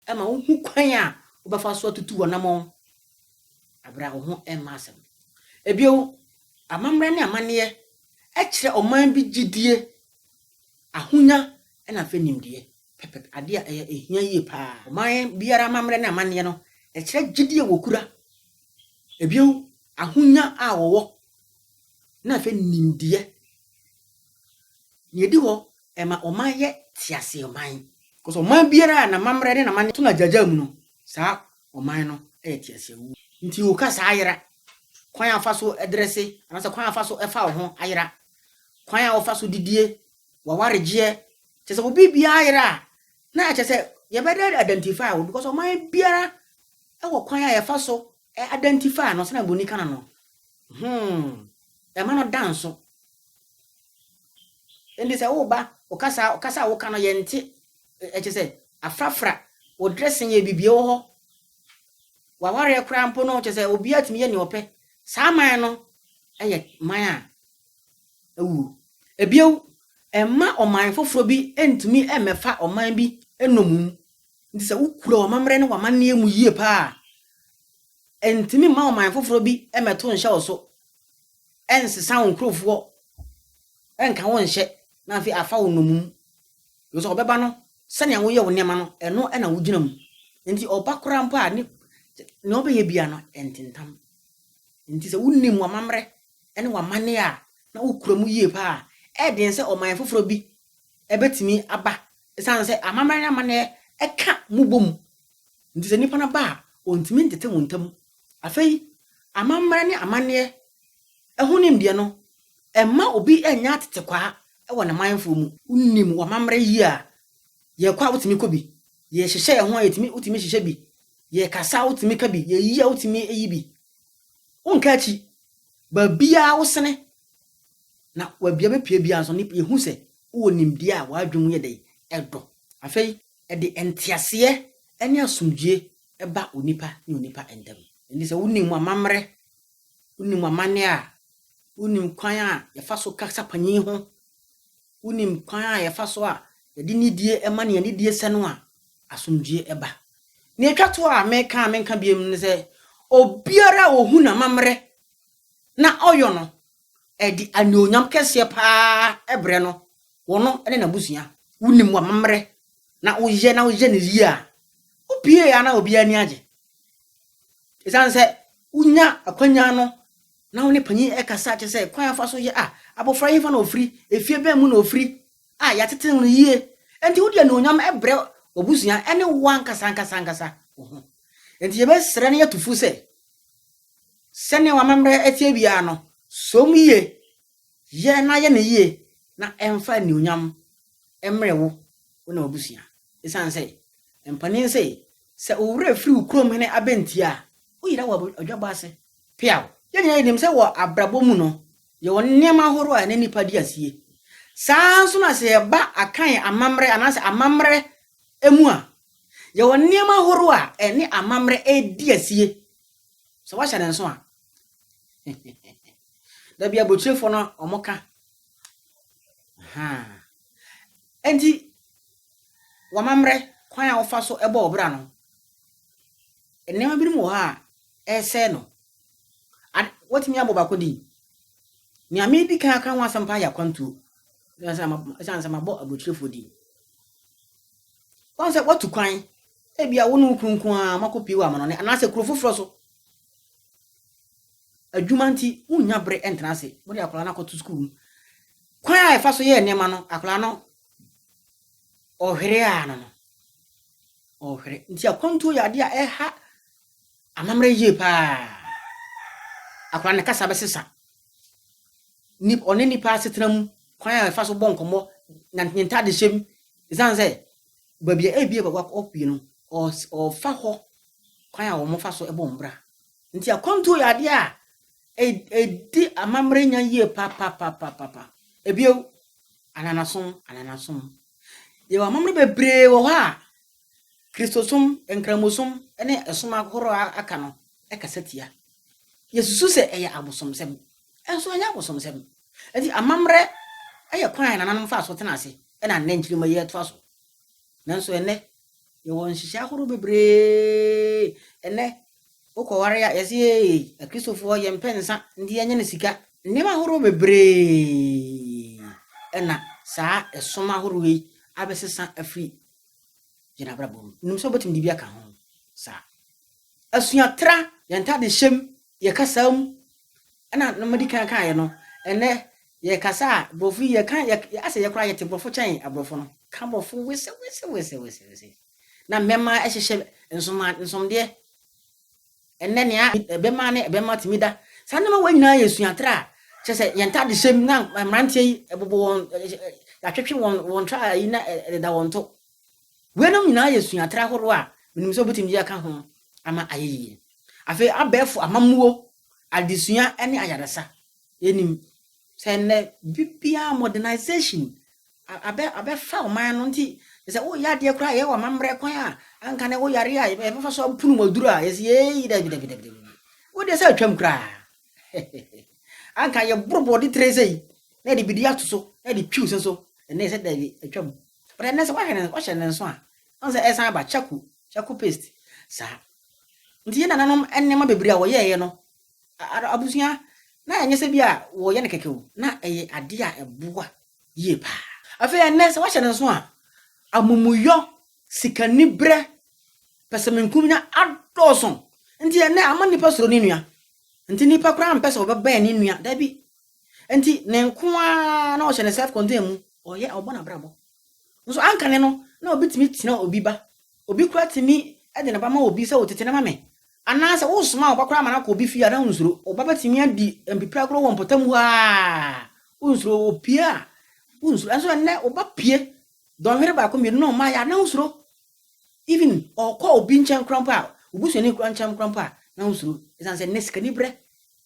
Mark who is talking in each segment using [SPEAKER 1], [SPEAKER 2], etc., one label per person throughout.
[SPEAKER 1] Ɛma wohu kwan a wobɛfa so atutu w'anammɔn bere a wo ho mma asɛm no. Bio, amammerɛ ne amanneɛ kyerɛ ɔman bi gyidie, ahonya, na afei nimdeɛ, pɛpɛpɛ, adeɛ a ɛyɛ ɛhia yie paa. Ɔman biara amammerɛ ne amanneɛ no kyerɛ gyidie a wɔkura, bio, ahonya a wɔwɔ, na afei nimdeɛ. Nea edi hɔ, ɛma ɔman yɛ teaseɛnman. Because ɔman biara a n'amammerɛ ne n'amanneɛ to no agyaagyaa mu no, saa ɔman no yɛ teaseɛnam. Nti wo kasa ayera, kwan a wofa so dresse anaasɛ kwan a wofa so fa wo ho ayera, kwan a wofa so didie, w'awaregyeɛ, kyerɛ sɛ wo biribiara ayera a, na ɛkyerɛ sɛ yɛbɛda identify wo because ɔman biara wɔ kwan a yɛfa so Ɛ identify no sɛnea buroni ka no no, hmm, ɛma no da nso. Enti sɛ wo ba, wo kasa, kasa a woka no yɛnte, ɛ, kyerɛ sɛ, afrafra, wo dressing yɛ bibie wɔ hɔ, w'awareɛ koraa mpo no, kyerɛ sɛ, obiara tumi yɛ nea ɔpɛ, saa man no yɛ man a awuo. Ebio, ɛmma ɔman foforɔ bi ntumi mmɛfa ɔman bi nnommum Nti sɛ wokura w'amammerɛ ne w'amanneɛ mu yie paa a, ɛntumi mma ɔman foforɔ bi mmɛto nhyɛ wo so, ɛnsesa wo nkurofoɔ, ɛnka wo nhyɛ, na afei afa wo nnommum. Efisɛ ɔbɛba no, sɛnea woyɛ wo nneɛma no, ɛno na wogyina mu. Nti ɔba koraa mpo a, ne nea ɔbɛyɛ biara no, ɛntentam. Nti sɛ wonim w'amammerɛ ne w'amanneɛ a, na wokura mu yie paa a, ɛyɛ den sɛ ɔman foforɔ bi ɛbɛtumi aba ɛsiane sɛ amammerɛ ne amanneɛ ɛka mo bɔ mu. Nti sɛ nnipa no aba a, wɔntumi ntete mo ntam. Afei, amammerɛ ne amanneɛ ɛho nimdeɛ no, ɛmma obi ɛnyɛ atetekwaa ɛwɔ ne manfoɔ mu. Wonim w'amammerɛ yie a, yɛkɔ a wotumi kɔ bi, yɛhyehyɛ yɛn ho a yɛtumi wotumi hyehyɛ bi, yɛkasa a wotumi ka bi, yɛyi a wotumi yi bi. Wonka akyi, baabiara wosene. Na wɔ bea bepue biara nso no, nip, yehu sɛ wowɔ nimdeɛ a w'adwene mu yɛ dɛn? Ɛdɔ. Afei, ɛde nteaseɛ ne asomdwoeɛ ba onipa ne onipa ntam. Enti sɛ wonim amammerɛ, wonim amanneɛ a, wonim kwan a yɛfa so kasa panyin ho, wonim kwan a yɛfa so a yɛde nidie ma nea nidie sɛ no a, asomdwoeɛ ba. Nea ɛtwa to a meka a menka biom ne sɛ, obiara a ɔhu n'amammerɛ na ɔyɔ no ɛde anuonyam kɛseɛ paa brɛ no, wɔno ne n'abusua. Wonim w'amammerɛ na woyɛ na woyɛ no yie a, wopie a na obiara ani agye. Ɛsiane sɛ wonya akwanya no na wo ne panyin ɛkasa kyɛ sɛ kwan afa so yɛ a, abɔfra yi fa na ofiri, efie bɛn mu na ofiri a yɛatete no yie. Enti wode anuonyam brɛ w'abusua ne wo ankasa ankasa ankasa wo ho. Enti yɛbɛsrɛ na yɛatu fo sɛ, sɛnea w'amammerɛ teɛ biara no, som yie, yɛ na yɛ no yie na ɛmfa anuonyam mmrɛ wo, wo ne w'abusua. Ɛsiane sɛ mpanin se, sɛ wo werɛ firi wo kurom hene abɛntie a, woyera wɔ adwabɔ ase peaw. Yɛn nyinaa yɛnim sɛ wɔ abrabɔ mu no, yɛwɔ nneɛma ahorow a ɛne nnipa di asie. Saa ara nso na sɛ yɛba Akan amammerɛ anaasɛ amammerɛ mu a, yɛwɔ nneɛma ahorow a ɛne amammerɛ di asie. sɛ wahyɛ ne nso a da bi abotiefoɔ no wɔn ka nti wamammerɛ kwan a wɔfa so bɔ ɔbra no nneɛma binom wɔ hɔ a ɛresɛe no watumi abɔ baako din nea medi kan aka ho asɛm paa yɛ akwantuo ɛsiane sɛ mabɔ abotiefoɔ din wɔn sɛ watu kwan Ebia wo ne wo kunu nko ara moakɔpue wɔ amanɔne anaasɛ kuro foforɔ so. Adwuma nti, wonnya bere ntena ase. Mode akwadaa no akɔto sukuu no. Kwan a yɛfa so yɛ nneɛma no, akwadaa no ɔhwere ara no no, ɔhwere. Nti akwantuo yɛ adeɛ a ɛha amammerɛ yie paa. Akwadaa no kasa bɛsesa. Ni ɔne nipa asetena mu kwan a yɛfa so bɔ nkɔmmɔ, ne ntadehyɛ mu, ɛsiane sɛ baabi a ebia bɛkɔ akɔpue no, wɔfa hɔ kwan a wɔfa so bɔ wɔn bra. Nti akwantuo yɛ adeɛ a ɛdi amammerɛ nya yie papapapapa. Ebio, ananasom, ananasom. Yɛwɔ amammerɛ bebree wɔ hɔ a Kristosom, Nkramosom ne ɛsom ahorow a aka no kasa tia. Yɛsusu sɛ ɛyɛ abosomsɛm. Ɛnso ɛnyɛ abosomsɛm. Enti amammerɛ yɛ kwan a nananom faa so tenaa ase na nnɛ nkyirimma yi retoa so. Nanso ɛnnɛ, yɛwɔ nhyehyɛe ahorow bebree. Ɛnnɛ, wokɔware a, yɛse ee, Akristofoɔ, yɛmpɛ nsa nti yɛnyɛ no sika. Nneɛma ahorow bebree na saa som ahorow yi abɛsesa afiri yɛn abrabɔ mu. Menim sɛ wobɛtumi de bi aka ho. Saa. Asuatra, yɛn ntadehyɛ mu, yɛn kasa mu, ɛna na madi kan kaeɛ no, ɛnɛ yɛkasa a borɔfo yi yɛka yɛ asɛ yɛ koraa yɛte borɔfo kyɛn aborɔfo no ka borɔfo wesewesewesewese na mmɛma ɛhyehyɛ nsoma nsomdeɛ ɛnɛ nea ɛbɛma ne ɛbɛma tumi da saa nneɛma wɔ nyinaa yɛ suatre a kyerɛ sɛ yɛn ntade hyɛm na mmeranteɛ yi ɛbobɔ wɔn yɛatwetwe wɔn wɔn tra yi na ɛdeda wɔn to Weinom nyinaa yɛ suatra ahorow a menim sɛ wobetumi de aka ho ama ayɛ yiye. Afei abɛɛfo amammuo, adesua ne ayaresa. Yɛnim sɛ nnɛ biribiara modernisation abɛ abɛfa ɔman no nti sɛ woyɛ adeɛ koraa a yɛwɔ amammerɛ kwan a anka na ɛwɔ yare a yɛbɛfa so apono mu aduru a yɛsi yɛyi dabi dabi dabi dabi wodeɛ sɛ atwam koraa anka yɛboro bɔɔde tire sɛ yi na yɛde bidie ato so na yɛde twiw sɛ so ɛnna yɛsɛ dabi atwam But ɛnnɛ sɛ woahwɛ no woahyɛ no nso a wohu sɛ ɛresan aba kyako kyako paste saa. Nti yɛn nananom nneɛma bebree a wɔyɛeɛ no abusua na ɛnyɛ sɛ bi a wɔyɛ no kɛkɛ o, na ɛyɛ adeɛ a ɛboa yie paa. Afei ɛnnɛ sɛ woahyɛ no nso a amumuyɔ, sikaniberɛ, pɛsɛmenkominya adɔɔso. Nti ɛnnɛ ama nnipa suro ne nua. Nti nnipa koraa mpɛ sɛ wɔbɛbɛn ne nua, daabi, Enti ne nko ara na ɔhyɛ ne self contain mu, ɔyɛ ɔbɔ n'abrabɔ. Nso anka ne no na obi tumi tena obi ba. Obi koraa tumi de ne ba ma obi sɛ wo tete no ma me. Anaasɛ wosoma wo ba koraa ma no akɔ obi fie a na wonsuro. Wo ba bɛtumi adi mpipiragorɔ wɔ mpɔtam hɔ ara wonsuro. Opue a wonsuro. Nso ɛnnɛ wo ba pue dɔnhwere baako mmienu na ɔmmaeɛ a na wosuro. Even ɔkɔ obi nkyɛn koraa mpo a, wo busuani koraa nkyɛn koraa mpo a na wosuro. Ɛsiane sɛ nnɛ sikaniberɛ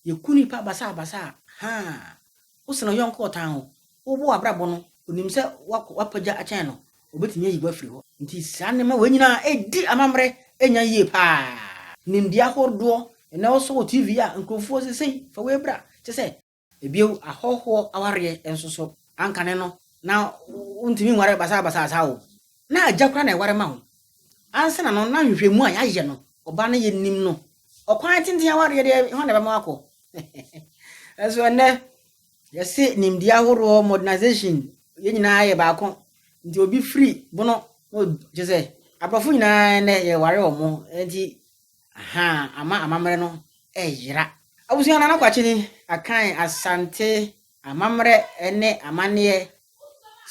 [SPEAKER 1] Yɛku nnipa basabasa a, haa, wosen ɔyɔnko a ɔtan wo. Wobɔ w'abrabɔ no, onim sɛ woakɔ, woapagya akyɛn no, obetumi ayi wo afiri hɔ. Enti saa nneɛma wei nyinaa redi amammerɛ anya yie paa. Nimdeɛ ahodoɔ, ɛnnɛ wosɔ wɔ TV a, nkurɔfoɔ seesei, fa wei bra, kyɛ sɛ. Bio, ahɔhoɔ awareɛ nso so, ankane no, na wontumi nware basabasa saa o, Na agya koraa na ɛware ma wo. Ansana no na nhwehwɛmu a yɛayɛ no ɔbaa no yɛ nim no ɔkwan tenten awareɛ deɛ hɔ na ɛbɛma wakɔ nso ɛnɛ yɛse nimdeɛ ahoroɔ modernization yɛn nyinaa yɛ baako nti obi firi bono na kyɛ sɛ aborɔfo nyinaa ɛnɛ yɛware wɔ mo nti aha ama amammerɛ no ɛyera abusua nana kwakyeni akan asante Amammerɛ ne amanneɛ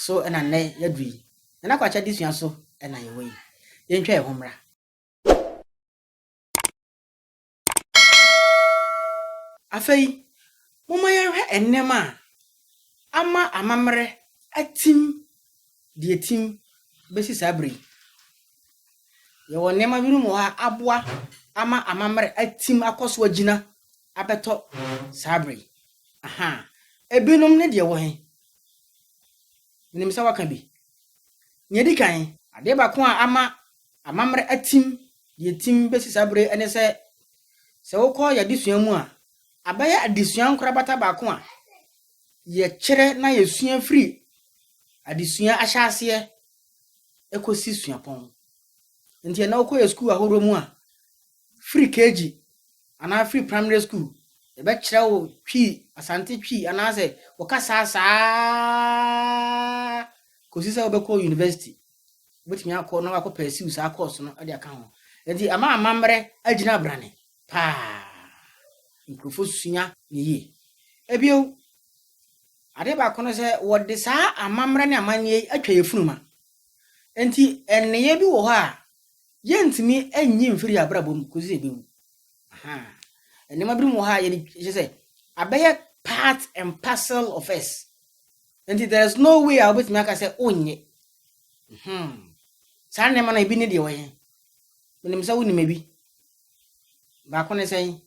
[SPEAKER 1] so na nnɛ yɛadu yi. Nana Kwakye adesua so na yɛwɔ yi. Yɛntwa yɛn ho mmra. Afei, momma yɛnhwɛ nneɛma a ama amammerɛ atim deɛ ɛtim bɛsi saa berɛ yi. Yɛwɔ nneɛma binom wɔ hɔ a aboa ama amammerɛ atim akɔ so agyina abɛtɔ saa bere yi. Ahaa. Ebinom ne deɛ ɛwɔ he? Menim sɛ woaka bi. Nea edi kan. Adeɛ baako a ama amammerɛ atim deɛ etim besi saa bere yi ne sɛ, sɛ wokɔ yɛn adesua mu a, abɛyɛ adesua nkorabata baako a yɛkyerɛ na yɛsua firi adesua ahyɛaseɛ ekosi suapɔn. Nti ɛnnɛ wokɔ yɛn sukuu ahoroɔ mu a, firi KG anaa firi primary school, yɛbɛkyerɛ wo Twi, Asante Twi anaasɛ wo kasa saa kɔsi sɛ wobɛkɔ university. Wobɛtumi akɔ na wakɔ pursue saa course no de aka ho. Nti ama amammerɛ agyina abrane paa. Nkurɔfoɔ sua ne yie. Ebio, adeɛ baako no sɛ wɔde saa amammerɛ ne amanneɛ yi atwa yɛn funuma. Nti nneyɛɛ bi wɔ hɔ a, yɛntumi nyi mfiri yɛn abrabɔ mu kɔsi sɛ ɛbɛwu. Nneɛma binom wɔ ha a yɛde kyɛ sɛ abɛyɛ part and parcel of us. Nti there is no way a wobɛtumi aka sɛ wonyɛ. Hmm. Saa nneɛma no ebi ne deɛ wɔyɛ. Menim sɛ wonim ebi. Baako ne sɛn?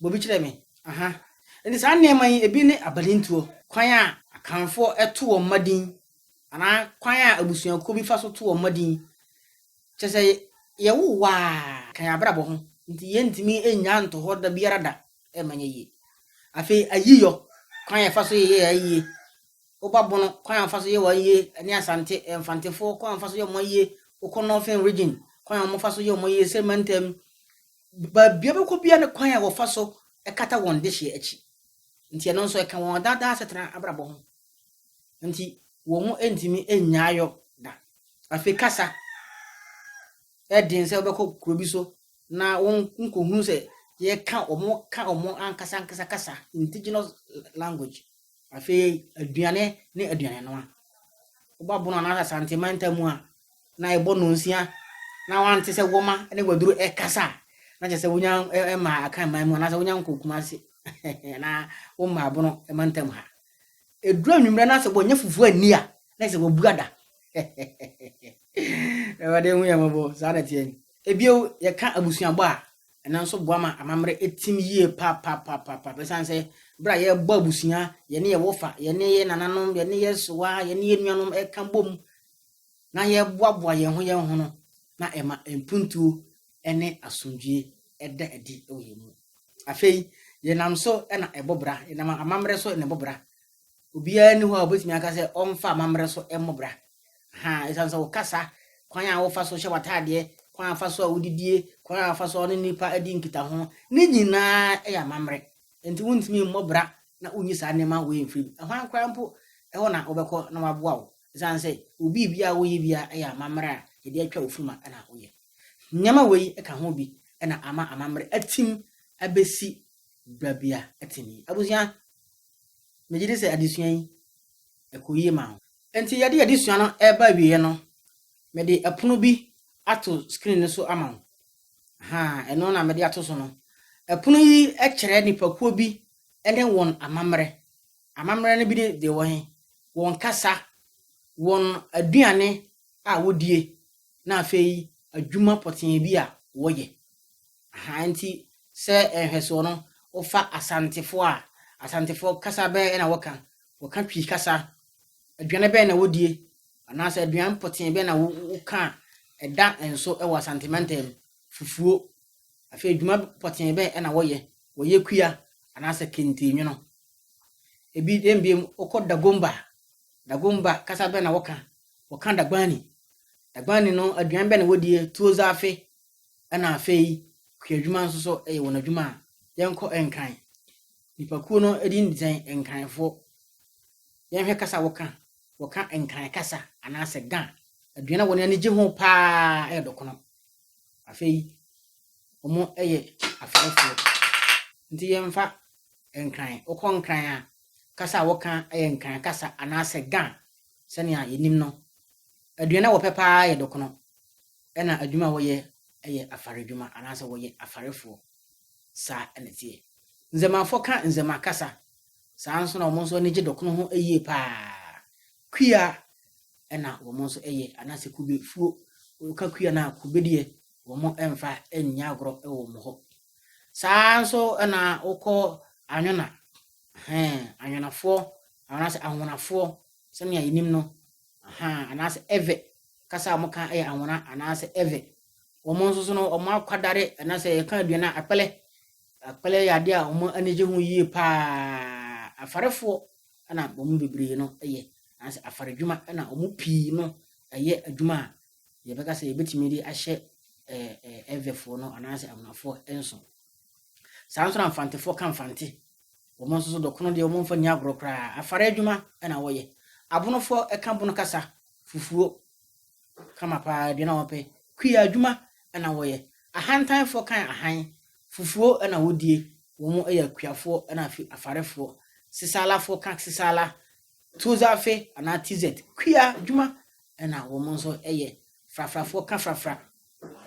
[SPEAKER 1] Bobi kyerɛ me. Aha. Nti saa nneɛma yi ebi ne abanintuo. Kwan a Akanfoɔ to wɔn mma din anaa kwan a abusuakuo bi fa so to wɔn mma din. Kyerɛ sɛ, yɛwo wo a, ka yɛn abrabɔ ho, nti yɛntumi nnyaa nto hɔ da biara da, ɛremma nyɛ yie. Afei ayiyɔ, kwan a yɛfa so yeyɛ ayie, woba Bono, kwan a wɔfa so yɛ wɔn ayie, ne Asante, Mfantefoɔ, kwan a wɔfa so yɛ wɔn ayie, wokɔ Northern Region, kwan a wɔfa so yɛ wɔn ayie, Serema Ntam, baabia wobɛkɔ biara ne kwan a wɔfa so kata wɔn dehyeɛ akyi. Nti ɛno nso ɛka wɔn daa daa asetena abrabɔ ho. nti wɔn ntumi nnyaa yɔ da. Afei kasa yɛ den sɛ wobɛkɔ kuro bi so na wonkɔhunu sɛ yɛka wɔn ka wɔn ankasa ankasa kasa indigenous language. Afei aduane ne aduane noa. Woba bono anaasɛ asante manta mu a na ɛbɔ nonsia na wante sɛ wɔma ne waduro ɛkasa a na kyerɛ sɛ wonya ɛma akan man mu anaasɛ wonya nkɔ kumase anaa woma abono mantam ha. Ɛduru anwummerɛ na sɛ wɔnyɛ fufuo anni a, na ɛsɛ wɔbu ada. Awurade hu yɛn mmɔbɔ, saa na ɛteɛ. Ebio, yɛka abusuabɔ a, ɛno nso boa ma amammerɛ tim yie papapapaapa ɛsiane sɛ berɛ a yɛrebɔ abusua, yɛne yɛn wɔfa, yɛne yɛn nananom, yɛne yɛn sowa, yɛne yɛn nuanom ɛka bom na yɛboaboa yɛn ho yɛn ho no, na ɛma mpuntuo ne asomdwoe da adi wɔ yɛn mu. Afei, yɛnam so na ɛbɔ bra, yɛnam amammerɛ so na ɛbɔ bra. Obiara nni hɔ a obetumi aka sɛ ɔmfa amammerɛ so mmɔ bra. Ha, esiane sɛ wo kasa, kwan a wofa so hyɛ w'ataadeɛ, kwan a fa so a wodidie, kwan a fa so a ɔne nnipa di nkitaho, ne nyinaa yɛ amammerɛ. Enti wontumi mmɔ bra na wonyi saa nneɛma wei mfiri mu. Ɛhwan koraa mpo, ɛhɔ na wobɛkɔ na wɔaboa wo, esiane sɛ wo biribiara a woyɛ biara yɛ amammerɛ a yɛde atwa wo funuma na woyɛ. Nneɛma wei ka ho bi na ama amammerɛ atim abɛsi berɛ bi a ɛtene yi. Abusua, megye di sɛ adesua yi, ɛkɔ yie ma wo. Enti yɛde adesua no reba awieɛ no, mede ɛpono bi ato screen no so ama wo. Ahaa, ɛno na mede ato so no. Ɛpono yi kyerɛ nipakuo bi ne wɔn amammerɛ. Amammerɛ no bi ne deɛ ɛwɔ he? Wɔn kasa, wɔn aduane a wɔdie, na afei adwuma pɔtee bi a wɔyɛ. Aha nti sɛ nhwɛsoɔ no, wofa Asantefoɔ a, Asantefoɔ kasa bɛn na wɔka? Wɔka Twi kasa. Aduane bɛn na wɔdie? Anaasɛ aduane pɔtee bɛn na woka a ɛda nso wɔ Asante mantam mu? Fufuo. Afei adwuma pɔtee bɛn na wɔyɛ? Wɔyɛ kua anaasɛ kente nwono. Ebi dɛn biom, wokɔ Dagomba Dagomba kasa bɛn na wɔka? Wɔka Dagbani. Dagbani no, aduan bɛn na wɔdie? Tuo zaafe, ɛna afei kuadwuma nso so yɛ wɔn adwuma a yɛnkɔ Nkran. Nnipakuo no din de sɛn? Nkranfoɔ. Yɛnhwɛ kasa a wɔka. Wɔka Nkran kasa anaasɛ Ga. Aduan a wɔn ani gye ho paa yɛ dɔkono. Afei, wɔyɛ afɛɛfoɔ. Nti yɛmfa Nkran. Wokɔ Nkran a, Kasa a wɔka yɛ Nkran kasa anaasɛ Ga. Sɛnea yenim no, aduan a wɔpɛ paa yɛ dɔkono, ɛnna adwuma a wɔyɛ yɛ afaredwuma anaasɛ wɔyɛ afarefoɔ. Saa na ɛteɛ. Nzemafo ka Nzema kasa, saa ara nso na wɔn nso ani gye dɔkono ho yie paa. Kua na wɔn nso yɛ anaasɛ kubefuo. Woka kua no a, kube deɛ wɔmfa nyɛ agorɔ wɔ wɔn hɔ. Saa ara nso na wokɔ Anwona, ɛhɛn, Anwonafoɔ anaasɛ Anwonafoɔ sɛnea yɛnim no, ahaa, anaasɛ Ewe kasa a wɔka yɛ Anwona anaasɛ Ewe. Wɔn nso so no, wɔn akwadare anaasɛ yɛka aduane a akpɛlɛ. Akpɛlɛ yɛ adeɛ a wɔn ani gye ho yie paa. Afarefoɔ na wɔn mu bebree no yɛ, anaasɛ afaredwuma na wɔn mu pii no yɛ adwuma a yɛbɛka sɛ yɛbɛtumi de ahyɛ ɛvɛfoɔ no anaasɛ amunafoɔ nso saa nso na mfantefoɔ ka mfante wɔn nso so dɔkono deɛ wɔn mfa ni agorɔ koraa afara adwuma na wɔyɛ abonofoɔ ɛka bono kasa fufuo kama paa aduane a wɔpɛ kuya adwuma na wɔyɛ ahantanfoɔ kan ahan fufuo na wɔdie wɔn yɛ akuafoɔ na afarefoɔ sesalafoɔ ka sesala Tozafé anaa Tizet, kua dwuma na wɔn nso yɛ. Frafrafoɔ ka frafra.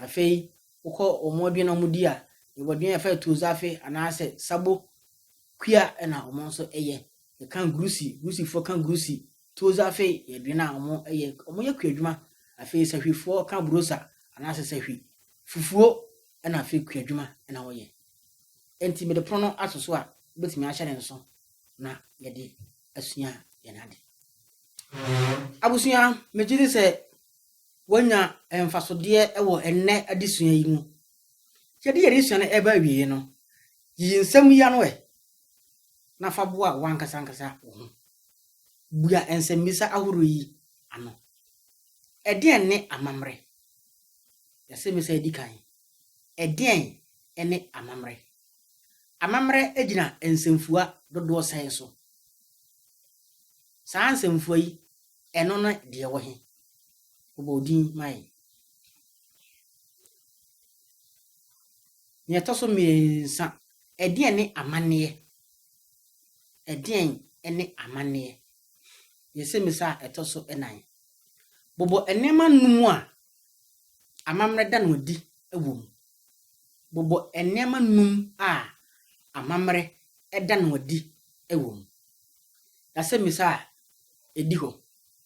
[SPEAKER 1] Afei wokɔ wɔn aduane a wɔdi a, yɛwɔ aduane a yɛfrɛ no Tozafé anaasɛ Sabo, kua na wɔn nso yɛ. Yɛka Gurusi, Gurusifoɔ ka Gurusi. Tozafé yɛ aduane a wɔyɛ, wɔyɛ kua dwuma. Afei Sahwifoɔ ka Burosa anaasɛ Sahwi, fufuo na afei kua dwuma na wɔyɛ. Enti mede pono no ato so a, wobɛtumi ahyɛ no nso. na yɛde asua yɛn ade. Abusua, megye di sɛ wɔanya mfasodeɛ wɔ ɛnnɛ adesua yi mu. Yɛde yɛn adesua no ɛba awieɛ no, yi nsɛm yi ano ɛ, na fa boa wankasa ankasa wo ho. Bua nsɛmmisa ahorow yi ano. Ɛdeɛn ne amammerɛ? Yɛse me sɛ ɛdi kan. Ɛdeɛn ne amammerɛ? Amammerɛ gyina nsɛmfua dodoɔ sɛn so? Saa nsɛmfua yi, ɛno ne deɛ ɛwɔ he? Bobɔ odin ma yɛn. Nea ɛtɔ so mmiɛnsa, ɛdeɛn ne amanneɛ? Ɛdeɛn ne amanneɛ? Yɛ sɛmmisa a ɛtɔ so nnan. Bobɔ nneɛma nnum a amammerɛ da no adi wɔ mu. Bobɔ nneɛma nnum a amammerɛ da no adi wɔ mu. Asɛmmisa a edi hɔ,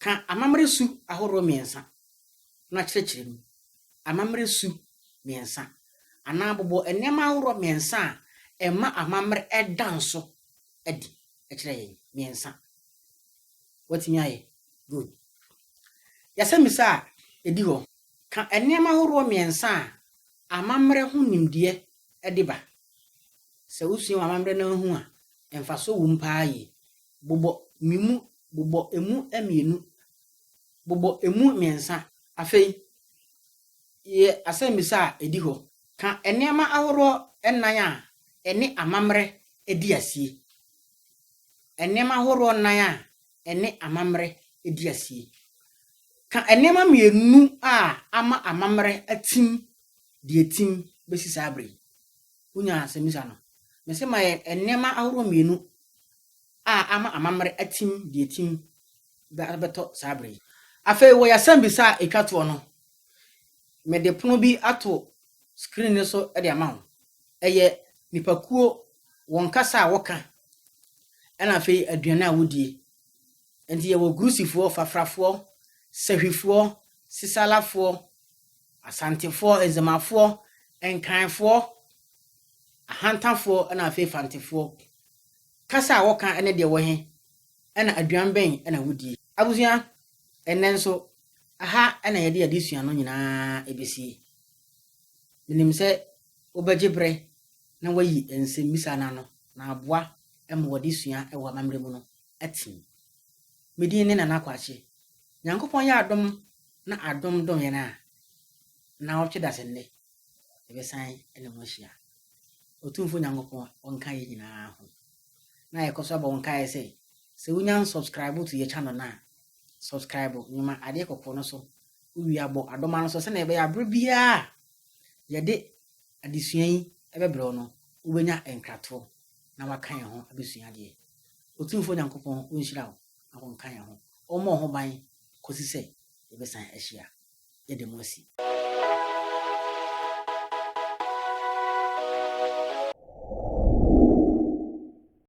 [SPEAKER 1] Ka amammerɛ su ahorow mmiɛnsa na kyerɛkyerɛ mu. Amammerɛ su mmiɛnsa. Anaa bobɔ nneɛma ahorow mmiɛnsa a ɛma amammerɛ da nso adi kyerɛ yɛn. Mmiɛnsa. Woatumi ayɛ? Good. Yɛ asɛmmisa a ɛdi hɔ. Ka nneɛma horoɔ mmiɛnsa a amammerɛ ho nimdeɛ de ba. Sɛ wosua wɔ amammerɛ no ara ho a, mfasoɔ wom paa yie. Bobɔ me mu, bobɔ ɛmu mmienu, bobɔ ɛmu mmiɛnsa. Afei, yɛ asɛmmisa a ɛdi hɔ. Ka nneɛma ahoroɔ nnan a ɛne amammerɛ di asie. Nneɛma horoɔ nnan a ɛne amammerɛ di asie. Ka nneɛma mmienu a ama amammerɛ atim de atim bɛsi saa berɛ yi. Wonya asɛmmisa no? Mese ma yɛ nneɛma ahoroɔ mmienu a ama amammerɛ atim de atim bɛtɔ saa berɛ yi. Afei wɔ yɛasɛmmisa a ɛtwa toɔ no, mede pono bi ato screen no so de ama wo. Ɛyɛ nnipakuo, wɔn kasa a wɔka, ɛna afei aduane a wɔdie. Nti yɛwɔ Grusifoɔ, Fafrafoɔ, Sahwifoɔ, Sisalafoɔ, Asantefoɔ, Nzemafoɔ, Nkanfoɔ, Ahantafoɔ ɛna afei Fantefoɔ. Kasa a wɔka ɛne deɛ wɔhe, ɛna aduan bɛn ɛna wɔdie. Abusua, ɛnnɛ nso aha ɛna yɛde adesua no nyinaa ɛbɛsie. Menim sɛ wobɛgye bere na wɔayi nsemmisa no ano na aboa ma wɔde sua wɔ amammerɛ mu no atim. Me din ne Nana Kwakye. Nyankopɔn yɛ adom na adom dom yɛn a, naawɔtwe da sɛ nnɛ, yɛbɛsan ne mo ahyia. Otumfo Nyankopɔn ɔnka yɛn nyinaa ho. Na yɛkɔ so abɔ wo nkaeɛ sɛ, sɛ wonya nsubscribe to yɛ channel no a, subscribe, nwoma adeɛ kɔkɔɔ no so, wowie a bɔ adoma no so sɛnea ɛbɛyɛ a bere biara a yɛde adesua yi bɛbrɛ wo no, wobɛnya nkratoɔ na waka yɛn ho abɛsua adeɛ. Otumfoɔ Nyankopɔn ɔnhyira wo na ɔnka yɛn ho ɔmmɔ wo ho ban kɔsi sɛ yɛbɛsan ahyia. Yɛda mu ase.